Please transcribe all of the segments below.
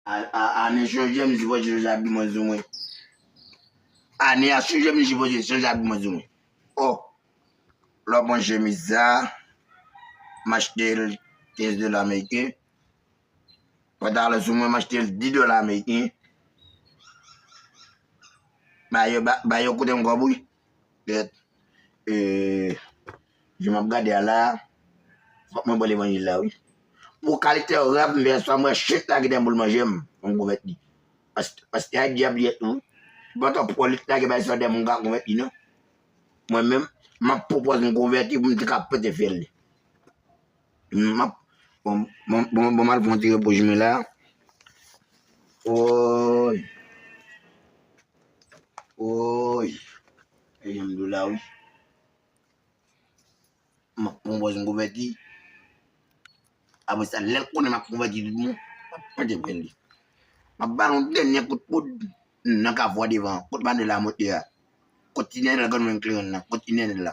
Ane sijè misye pote se sa biman di mwen. Ane a sijè misye pote se sa biman di mwen. Oh! Lè w pran chemiz sa, m achte l 15 dola ameriken. Pantalon sou mwen m achte l 10 dola ameriken. Ba yo koute m kòb wi. Bèt, e, jan m ap gade a la a, fòk mwen bò levanjil la wi. Pou kalite rèv m fè sa, m wè chenn lage dèn boul manje m, m konvèti. Pastè a dyab li ye tou wi. Se pa twòp wòl li t lage bay sa dèn m ka konvèti non. Mwen menm, m ap pwopòz m konvèti pou m te ka pote fèl li. Map bon bon bon mal pran ti repo jumela la Woyy Woyy e janm do la wi Map pran pòz m konvèti apre sa lèl konnen map konvèti tout bon map pete vèl li map bal yon dènye kout poud nan ka vwa devan kot manuel la monte a kot ti nènèl gònmen kleren nan kot ti nènèl la.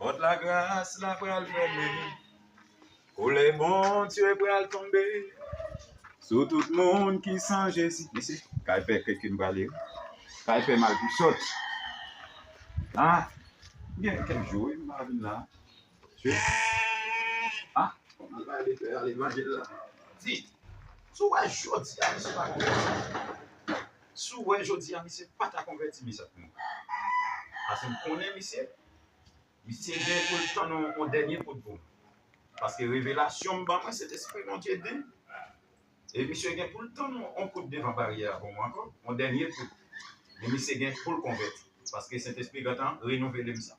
Pòt lagras la pral fèmen, kolè Bondye pral tonbe sou tout moun ki san Jezi. Mesi, kay pè kè ke m prale yo. Kay pè mal pou sòt. Ha, gen kèk jou wi m pa vin la. Chwe. Ha, mal pale pè a levanjil la. Di, sou wè jodi a misye pa konn. Si w wè jodi a misye pa ta konvèti mes amour. Paske m konnen misye. Misye gen pou l tann yon dènye kout pou m. Paske revelasyon m ban mwen se lespri Bondye di m. E misye gen pou l tann yon kout devan baryè a pou mwen ankò. Yon dènye kout. Men misye gen pou l konvèti. Paske Sentespri gentan renouvele m sa.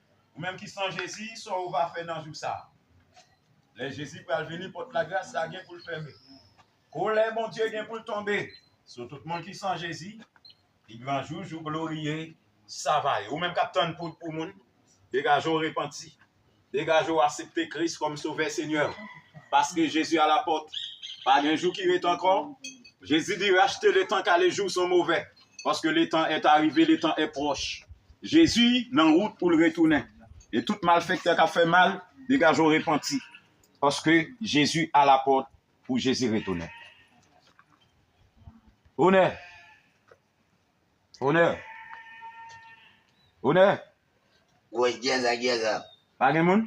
Ou menm ki san Jezi, sa ou va fè nan jou sa a? Lè Jezi pral vini, pòt lagras la gen pou l fèmen. Kolè Bondye gen pou l tonbe sou tout moun ki san Jezi. Pi gran jou, jou gloriye sa va ye. Ou menm k ap tann poud pou moun, degaje w repanti. Degaje w asepte Kris kòm Sovè Senyè w. Paske Jezi alapòt. Pa gen jou ki ret ankò. Jezi di rachte letan kale jou son move. Paske letan è arive, letan è pwòch. Jezi nan wout pou l retounen. E tout malfèktè k ap fè mal, degaje w repanti. Paske Jezi alapòt pou Jezi retounen. Onè! Onè! Onè! Gwòs gyèzan gyèzan. Pa gen moun?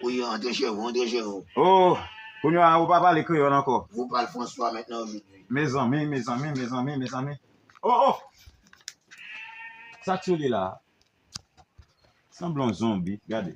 Wi yo antre chez vous, antre chez vous. Oh! Kounye a ou pa pale kreyòl ankò. Vous parle François maintenant aujourd'hui. Mezanmi, mezanmi, mezanmi, mezanmi. Oh oh! Sak sou li la a? Sanble yon zonbi, gade.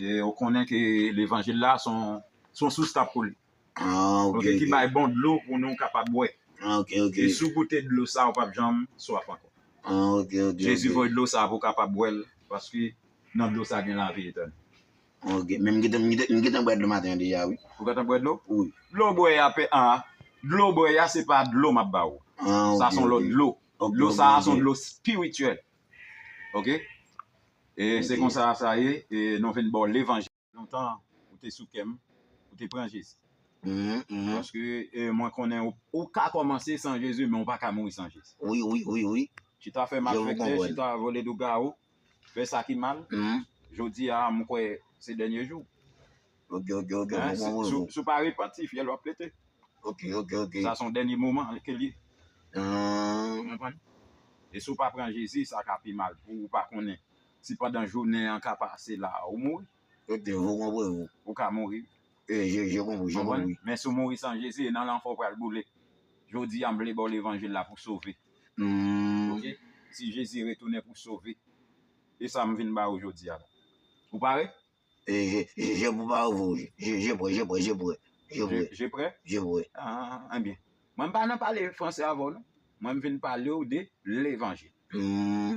E ou konnen ke levanjil la se yon sous kap koule. Ok. Ki bay bon dlo pou nou kapab bwè. Ok, ok. E si ou goute dlo sa ou pap janm swaf ankò. Ok, ok. Jezi voye dlo sa pou ou kapab bwè l paske nan dlo sa gen lavi etènèl. Ok. Men m gentan bwè dlo maten an deja wi. Ou gentan bwè dlo? Wi. Dlo w bwè a, dlo w bwè a se pa dlo map ba ou. Sa son lòt dlo. Dlo sa son dlo spirityèl. Ok e se konsa sa ye e nou vin baw levanjil lontan ou te sou kèm ou te pran jezi paske mwen konnen ou ka kòmanse san jezi men ou paka mouri san jezi chita fè malfektè chita vole lougawou fè sa ki mal jodi a mwen kwè se dènye jou Ok ok ok mwen pran mwen vou. Si w pa repanti fyèl w ap pete. Ok ok ok. Sa son dènye moman ke l ye. Ou konprann? E si w pa pran Jezi sa ka pi mal pou ou pa konnen si pandan jounen an ka pase la ou mouri. Ok mwen konprann ou. Ou ka mouri wi. E je je konprann je konprann. Men si w mouri san Jezi e nan lanfè w pral boule. Jodi a m vle ba w levanjil la pou sove. Ok si Jezi retounen pou sove. E sa m vin ba ou jodi a la. Ou pare? Je pou pa ouvri ou je. Je pre, je pre, je pre. Je pre. Je pre? Je pre. Enbyen, mwen pa nan pale franse avè w non. Mwen m vin pale w de levanjil.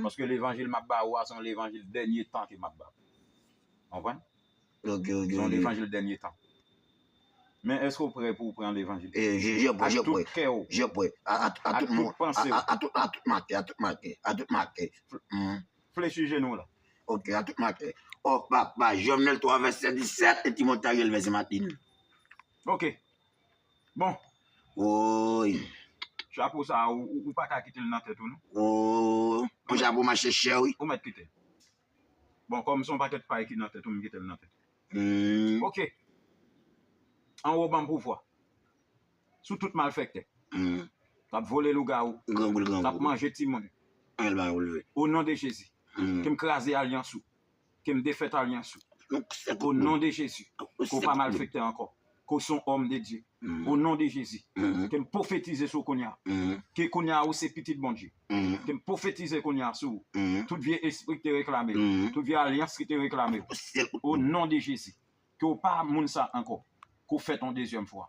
Paske levanjil m ap ba ou a se yon levanjil dènye tan ke m ap ba ou. Ou konprann? Ok, ok. Se yon levanjil dènye tan. Men èske ou pre pou ou pran levanjil? Je pre, je pre. A tout kè ou. Je pre. A tout panse ou. A tout ma kè, a tout ma kè. A tout ma kè. Flechi jenou w la. Ok a tout maten. Oh papa, Jovenel 3 vèsè 17 e ti mont Ariel vèsè matin. Ok. Bon. Woy. Chapo sa a ou pa ka kite l nan tèt ou non. Ooh. Yon chapo mache chè wi. Ou mèt kite l. Bon kòm son pakèt pay ki nan tèt ou m kite l nan tèt ou. Ok. Anwo banm pouvwa. sou tout malfèktè kap vole lougawou kap manje timoun o non de jezi kem kraze alyans ou kem defèt alyans ou o non de jezi kou pa malfèktè ankò kou son òm de Dye o non de jezi kem pofetize sou kounya ke kounya ou se pitit Bondye kem pofetize kounya sou tout vye espri ki te reklame tout vye alyans ki te reklame o non de jezi ke ou pa moun sa ankò kou fèt yon dezyèm fwa.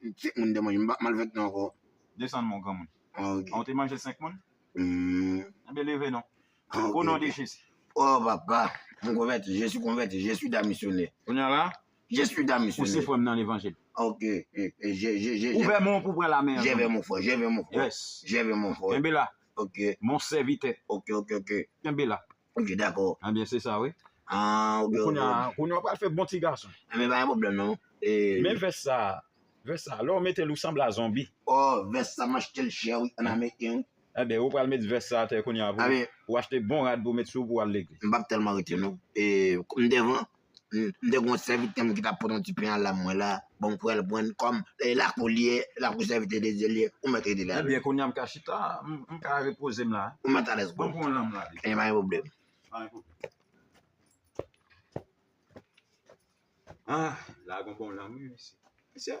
5 moun te manje, m pap mal fèt nou ankò. Desann mon granmoun. Ok. Ou te manje 5 moun? Humm. Enben leve non. Ok. O non de Jezi. O papa, m konvèti, je suis konvèti, je suis damisyonè. Kounye a la? Je suis damisyonè. Ou se frè m nan levanjil. Ok. Je, je, je. Ouvè men w pou w pran lame an. Je vè mon frè, je vè mon frè. Yes. Je vè mon frè. Kenbe la. Ok. Mon sèvitè. Ok, ok, ok. Kenbe la. Ok dakò. Anbyen se sa wi. Ahh ok ok. Kounya kounya ou pral fè bon ti gason. Anbyen pa gen pwoblèm non. Men vès sa, vès sa lè w mete l ou sanble a zonbi. Ohh vès sa m achte l chè wi an ameriken wi. Anbyen ou pral met vès sa atè kounya pou ou achte bon rad pou w met sou w pou w al legliz. M pap tèlman rete non. M devan. m te gen yon sèvitè m ki t ap pot yon ti pen an la mwen la, bon m fè l pran l kòm e lakou l ye, lakou sèvitè de Dye l ye, ou mèt rete la. Ebyen kounye a m ka chita, m ka repoze m la. Ou mèt alèz kò. Mwen pran yon lanm la. Ebyen pa gen pwoblèm. Pa gen pwoblèm. Ah, la gen yon bon lanm wi misye. Misye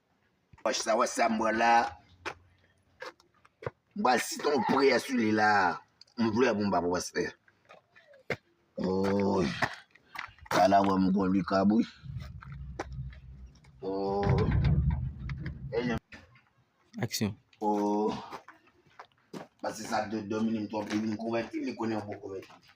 Wach sa wach sa m pran la. M pral site yon priyè sou li la. M vle pou m pa pou pastè. Oy. Sa la wè m kon li kab wi. Oy. Aksyon. Oy. Pase sa de dom li m twòp li m konvèti li konnen m pou konvèti.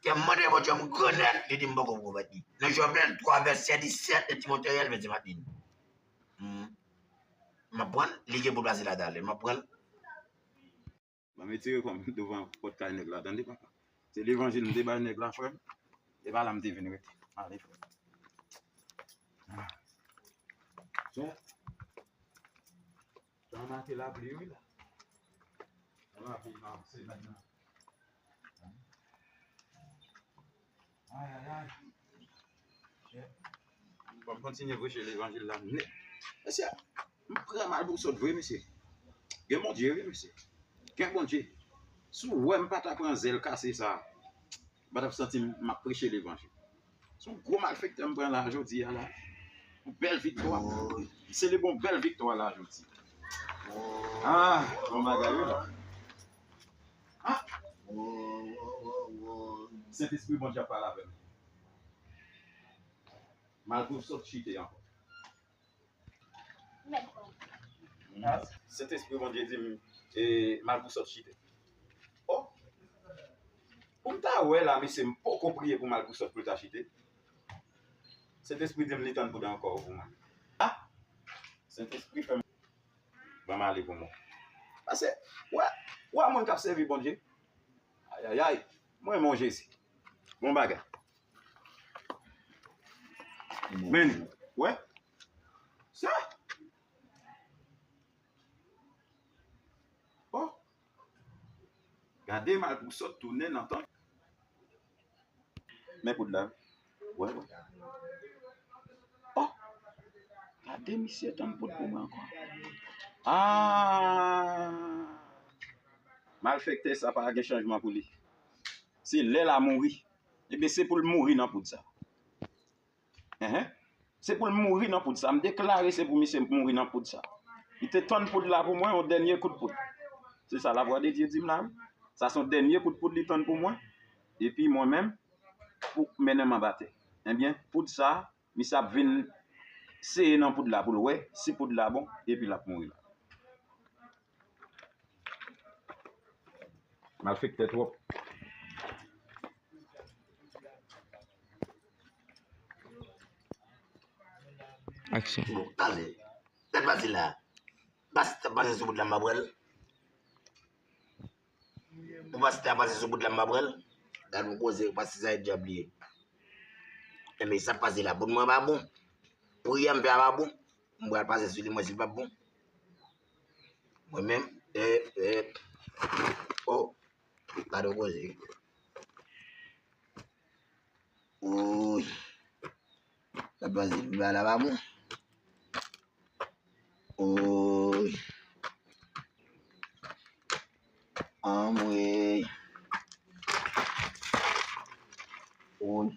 Ke m mande Bondye m gran nèt, li di m poko pou konvèti. Nan Jovenel 3 vèsè 17 e Timote rel vèsè 21. M ap pranl, li gen pou l pase la dal e m ap pranl. Banm etire kòm devan pòt kay nèg la tande papa. Se levanjil m te bay nèg la frèm. E pa la m te vin rete. Ale frèm. Son. Tan manke lapli wi la. Yon lapli nan semèn nan. Ayayay. Bon kontinye preche levanjil la nèt. Mesye, m pran mal pou sòt vre mesye. Gen Bondye wi mesye. Gen Bondye. Si w wè m pa ta pran zèl kase sa. m pa tap santi m map preche levanjil. Se yon gwo malfektè m pran la jodi a la. Yon bèl viktwa. M selebre yon bèl viktwa la jodi. Aa bon bagay wi la. Sentespri Bondye ap pale avè m. Malpouw sot chite ankò. Sentespri Bondye di m e malpou sòt chite. Oh! Pou m ta wè la mesye m poko priye pou malpou sòt pou l ta chite. Sentespri di m li tann pou dan kò pou mwen. Ah! Sentespri fè m. Ban m ale pou mwen. Pase wè, wè moun k ap sèvi Bondye. Ayayay! M renmen w Jezi. Bon bagay. Men, wè? Sa? Oh! Gade mal pou sot tounen nan tank. Men kout la. Wè? Oh! Gade misye tann kout pou mwen ankon. Aaa! Malfekte sa pa gen chanjman pou li. Se lè la mouri. Ebyen se poul mouri nan poud sa. Ehe. Se poul mouri nan poud sa. M deklare se pou misye mouri nan poud sa. Li te tann poud la pou mwen, yon dènye kout poud. Se sa la vwa de Dye dim la wi. Sa son dènye kout poud li tann pou mwen. Epi mwen menm pou mennen m anba tè. Ebyen poud sa Misye ap vin seye nan poud la pou l wè si poud la bon epi l ap mouri la. Malfektè twòp. Aksyon. Bon, ale. Bèl pati la. Bas t ap pase sou poud la m ap wè l. Pou pastè a pase sou bout la m pa pran l. Gad yon koze pastè sa e dyab li ye. Enben sa k pase la pou mwen pa bon. Priyè m fè a pa bon. M pral pase sou li mwen si l pa bon. Mwen menm e e o gad yon koze. Oouyy. Sa pa se ba la pa bon. Oy. Anmwey. Oy.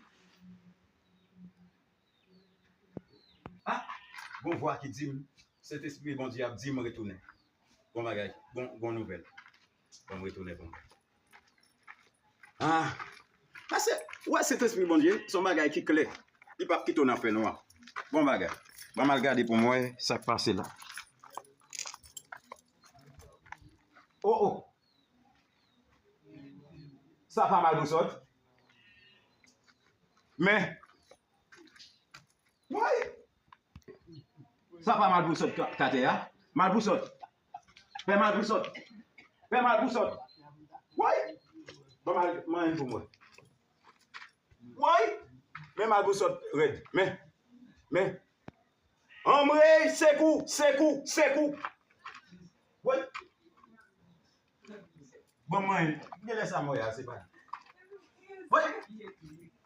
Ah, gon vwa ki di m, Sentespri Bondye a ap di m retounen. Bon bagay, gon nouvèl. Bon m retounen pou mwen. Ah! Pase, ou wè Sentespri Bondye se yon bagay ki klè. Li pap kite w nan fènwa. Bon bagay. Ban m al gade pou m wè sa k pase la. Oh oh! Sa pa mal pou sot. Men! Woy! Sa pa mal pou sot ka te a. Mal pou sot. Pè mal pou sòt. Pè mal pou sòt. Woy! Ban mal manyen pou mwen. Woy! Men mal pou sòt rèd. Men. Men. Anmreyy! Sekou! Sekou! Sekou! Woy! Bon mwen, gen lè sa mwen wè a se pa li. Woy!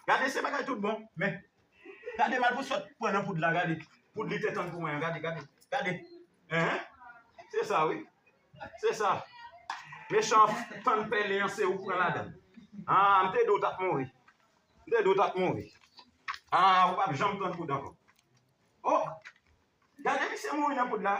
Gade se bagay tout bon, men gade mal pou sot pran nan poud la gade. Poud li te tann pou mwen an gade, gade, gade. Enhen! Se sa wi. Se sa. Mechan tann pèlen an se ou k pran ladann. Aa m te di w t ap mouri. M te di w t ap mouri. Aa ou p ap janm pran poud ankò. O! Gade misye mouri nan poud la.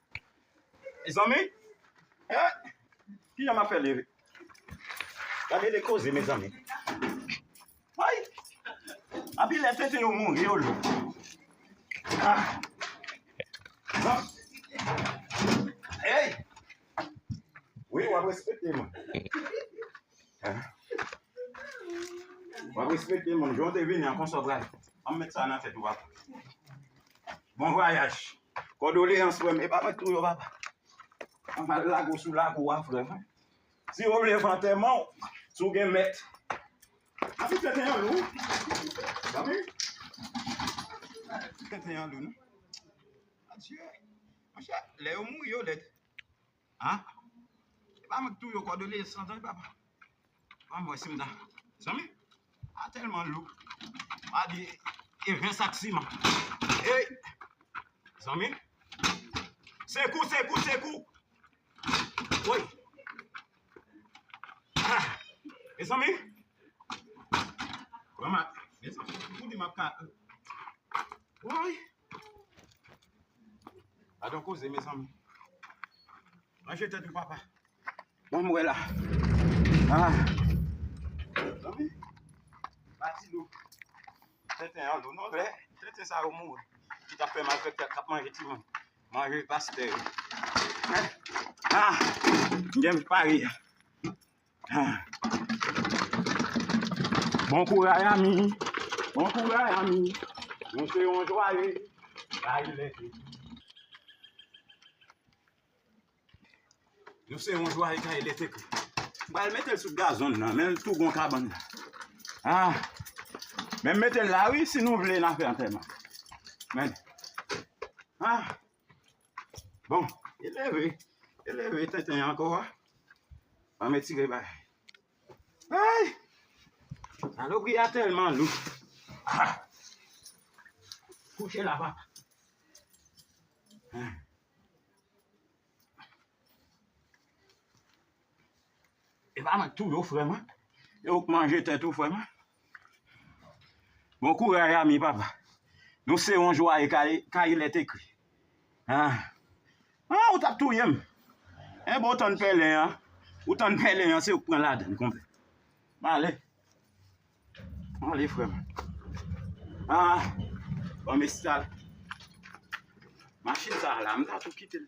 Mezanmi eh kijan map fè leve gade de koze mezanmi woy anpil lè tenten yo mouri yo lou ah non eyy wi wap respekte moun ah wap respekte moun jan w te vini an konsa w pral anm met sa nan tèt ou papa bon vwayaj. Kòdoleyans frèm epa mwen ki touye w papa Ann al lago sou lago a frèm Si ou vle fè antèman w si w gen mèt Atik 21 lou Zanmi Atik 21 lou non Adyee Monchè lè yo mouri yo lèd. Ahh e pa mwen ki touye w kòdonye san zanmi papa banm wè sim ta zanmi a tèlman lou pa di e 20 sak siman eyy zanmi sekou sekou sekou woy ahh e zanmi banm a mezanmi ou di map ka woy. Gadon koze mezanmi. Ranje tèt ou papa. Bon mwen la. Ah. Zanmi. Bati lou. Tenten an lou non lè. Tenten sa yo mou. Ki ta fè malfèk tèt kap manje ti moun. Manje pastè. Ah. Gen pari. Bon kouraj ami, bon kouraj ami, nou se yon jwaye, rayi lè te di. Nou se yon jwaye kaye lè te kri. M pral mete l sou gazon nan, men l tou gon kabann nan. Ah, men m mete l la wi, si nou vle n a fè antèman. Men, ah. Bon, e leve, e leve tenten anko a. An me tire bay. Ay! Salopri a telman lou. Ha! Kouche la papa. Hmm. E pa mwen tou yo frè mwen. Yo k manje tèt ou frè mwen. Bon kouray ami papa. Nou se yon jwaye kayilè te kri. Ah ah ou tap touyem. Eh bon ou tann pèlen an. Ou tann pèlen an se ou k pran ladann konpè. Male. Male frèm. Ah banm estal. Machin sa la m ta tou kitel.